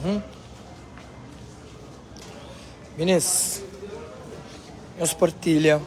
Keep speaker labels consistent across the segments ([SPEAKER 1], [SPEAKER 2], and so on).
[SPEAKER 1] Hum? Minis, nos partilha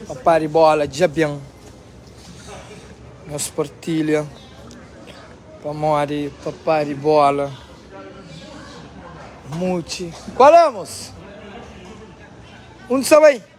[SPEAKER 1] papá de bola dja bem nos partilha pamodi papá de bola muti qual é moço onde você vai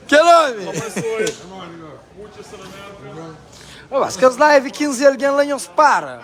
[SPEAKER 1] Kel omi! Mas kes live 15 algen la nhos para.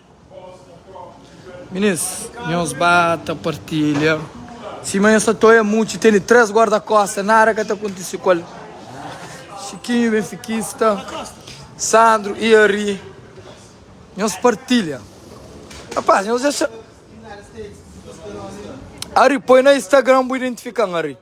[SPEAKER 1] Minis, nhos ba ta partilha. Sima nhos ta toia mutxi tene 3 guarda kosta nada ka ta kontise ku el chiquinho benfiquista sandro e ari nhos partilha rapaz nhos dexa ari poi na instagram bu identifikan ari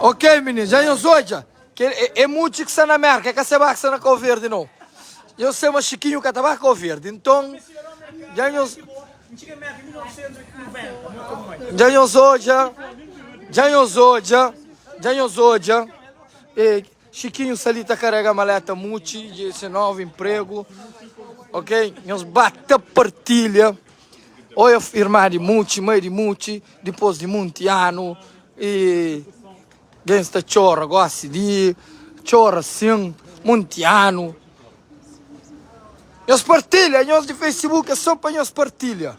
[SPEAKER 1] Ok meninas, dja nhos odja ke e mutxi ki sta na Mérka, e ka se ba ki sta na Kau Verdi nau. Nhos se ma Xikinhu ka ta ba Kauverdi, nton dja nhos dja nhos odja dja nhos odja dja nhos odja e. Chiquinho sa li ta karega maleta muchi de se novo emprego ok nhos ba ta partilha oia irma de muchi mai de muchi depois de munti ano e gen sta chora gosi de chora sim munti ano nhos partilha nhos de facebook é so pa nhos partilha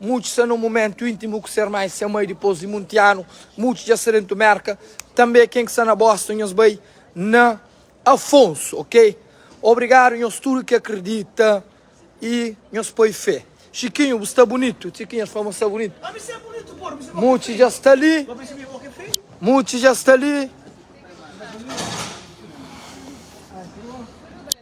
[SPEAKER 1] Mudju sta nun mumentu intimu ku se erma i se mai dipos di munti anu. Mudju dja sta dentu Merka tanbe. Ken ki sta na Boston nhos bai na Afonso ok. Obrigadu nhos tudu ki akridita i nhos poi fe. Chikinhu bu sta bunitu. Chikinhu el fla ma sta bunitu. Mudju dja sta li. Mudju dja sta li.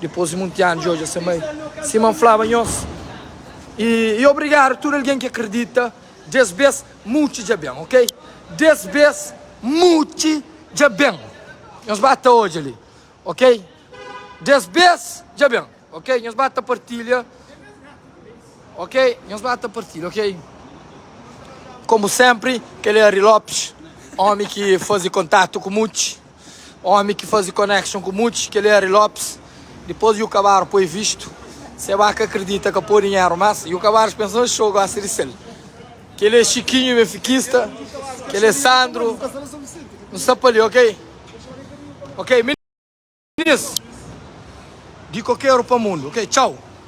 [SPEAKER 1] Dipôs di monti anu, dja odja se mai, sima N flaba nhos. I i obrigadu tudu algen ki akridita, des bês mudji dja ben, ok? Des bês mudji dja ben, nhos ba ta odja li, ok? Des bês dja ben, ok? Nhos ba ta partilha, ok? Nhos ba ta partilha, ok? Komu sénpri, kel-li é Ari Lopes, ómi ki faze kontatu ku mudji. Omi ki fazi connection ku muti kel Harry Lopes dipos yu kabaru poi vistu se ba ka kridita ka po dinheru mas yu kabaris pensa oh xou gosta di sel kel e chikinhu benfikista kel e sandro nu sta pali ok ok meninas di kokeru pa mundu ok tchau.